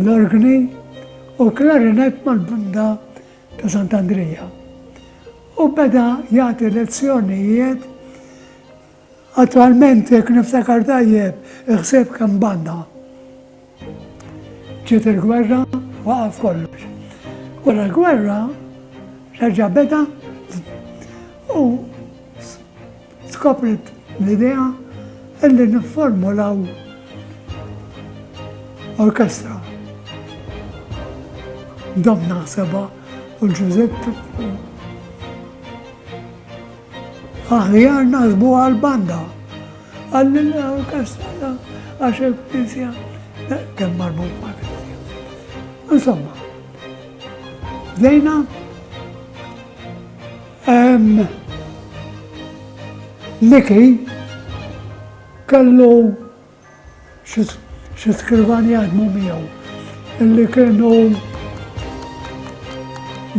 l-orgni u l-klarinett mal-Banda ta' Sant'Andrija u beda jagħti lezzjonijiet Attwalment jekk niftakar tajjeb iħseb kemm banda. Ġiet il-gwerra waqaf kollox. Wara l-gwerra reġa' beda u Skopret l-idea illi nifformulaw orkestra. Dom naħseba u Ġużett aħjar naħsbu għal-banda għalli l-orkestra għax il-knisja kemm marbut ma' Insomma, bdejna Miki kellu xi skrivan jaħdmu miegħu illi kienu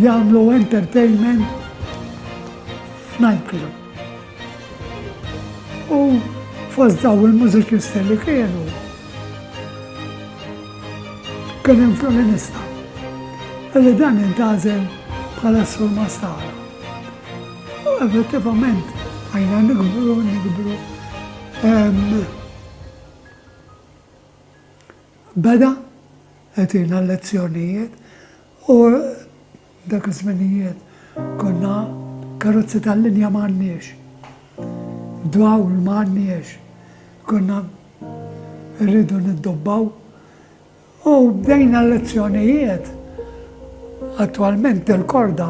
jagħmlu entertainment f'nightclub. U fost daw il-mużiċisti li kienu kien hemm fiolinista li dan intażel bħala s-sur Mastara. U effettivament għajna nikbru, nikbru. Beda, għetina lezzjonijiet u Dak iż-żminijiet konna karozzi tal-linja m'għandniex. Dawl m'għandniex. Konna rridu niddobbaw. U bdejna l-lezzjonijiet attwalment il-korda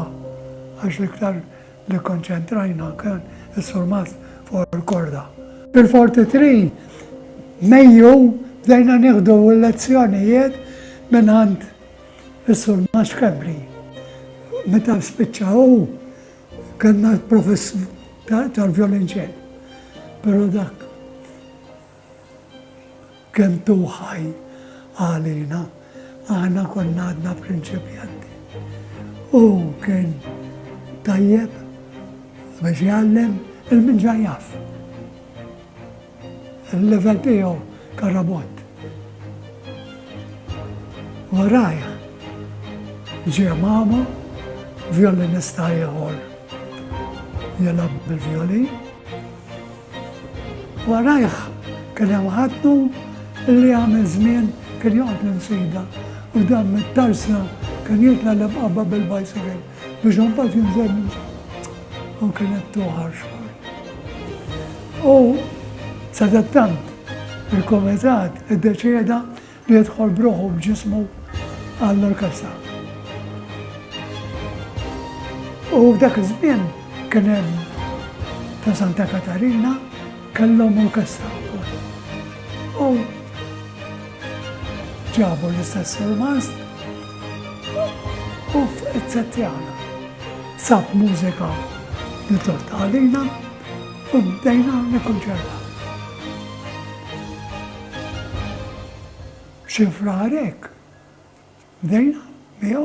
għax l-iktar li konċentrajna kien is-surmat fuq il-korda. Fil-43 Mejju bdejna nieħdu l-lezzjonijiet minn għand Is-Sur Maskabri, meta spiċċa hu kellna l-profess tal-vjolinċell. Però dak kemm tuħaj għalina, aħna konna għadna prinċipjanti. U kien tajjeb biex jgħallem il-minġa jaf. Il-level tiegħu ka robot. Warajh ġie mama vjolinista ieħor jilgħab bil-vjolin. Warajh kien hemm ħaddu li għamel żmien kien joqgħod l-insida u dan mit-tarsna kien jitla l-imqabba bil-bicycle. Biex għambat jinżel u kienet tuħar xogħol. U sadattant il-komitat id-deċeda li jidħol bruħu b'ġismu għall-orkestra. U dak iż-żmien kien hemm ta' Santa Katarina kellhom orkestra wkoll. U ġabu l-istess il-mast Uff eċċezzjana. Sab mużika li tort għalina u bdejna nikkunċertaw. Xi frar hekk bdejna miegħu.